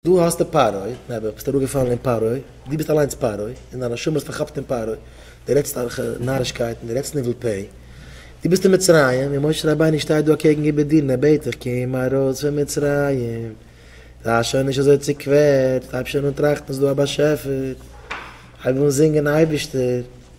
דא האסטו פרעה, נעבעך ביסטו אראפגעפאלן אין פרעה, דו ביסט אליינס פרעה, און דיין נשמה איז פארכאפט אין פרעה, דו רעדסט אויך נארישקייטן, דו רעדסט ניבול פה, דו ביסט אין מצרים, און משה רבינו שטייט דא אקעגן איבער דיר און ער בעט דיך קום ארויס פון מצרים, זיי שוין נישט אזוי צוקווערט, הייב שוין אן טראכטן ס'איז דא א באשעפער, הייב אן זינגען אייבערשטער.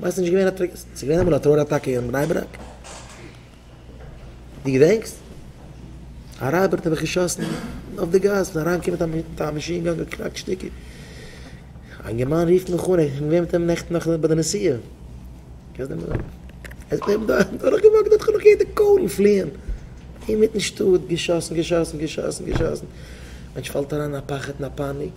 ווייסט נישט געווען א טרער ס'איז געווען אמאל א טרער אטאקע אין בני ברק? די געדענקסט? א רייבער האט געשאסן אויף די גאס און אריין געקומען מיט א מאשין גאן געקראקט שטיקער א אינגערמאן רופט מיך אן ער איז געווען מיט אים נעכטן נאכט ביי די נסיעה קענסט דעם נאמען? ער איז געבליבן דארטן דורך געוואקט האט זיך נאך געהערט די קולן פליען אינמיטן שטאט געשאסן געשאסן געשאסן געשאסן מענטש פאלט אריין אין א פחד אין א פאניק.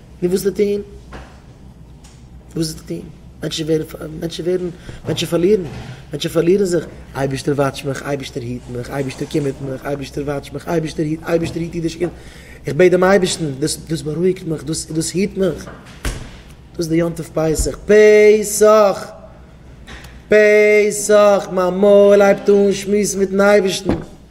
נו וואס טוט אהן? וואס טוט אהן? מענטשן ווערן פ מענטשן ווערן מענטשן פארלירן מענטשן פארלירן זיך, אייבערשטער וואטש מיך, אייבערשטער היט מיך, אייבערשטער קומערט מיך, אייבערשטער וואטש מיך, אייבערשטער היט, אייבערשטער היט אידישע קינדער, איך בעט דעם אייבערשטן, דאס דאס בארואיגט מיך, דאס דאס היט מיך, דאס איז די יום טוב פסח, פ ס ח! פ ס ח! מיין מויל הייבט אהן שמועסן מיטן אייבערשטן.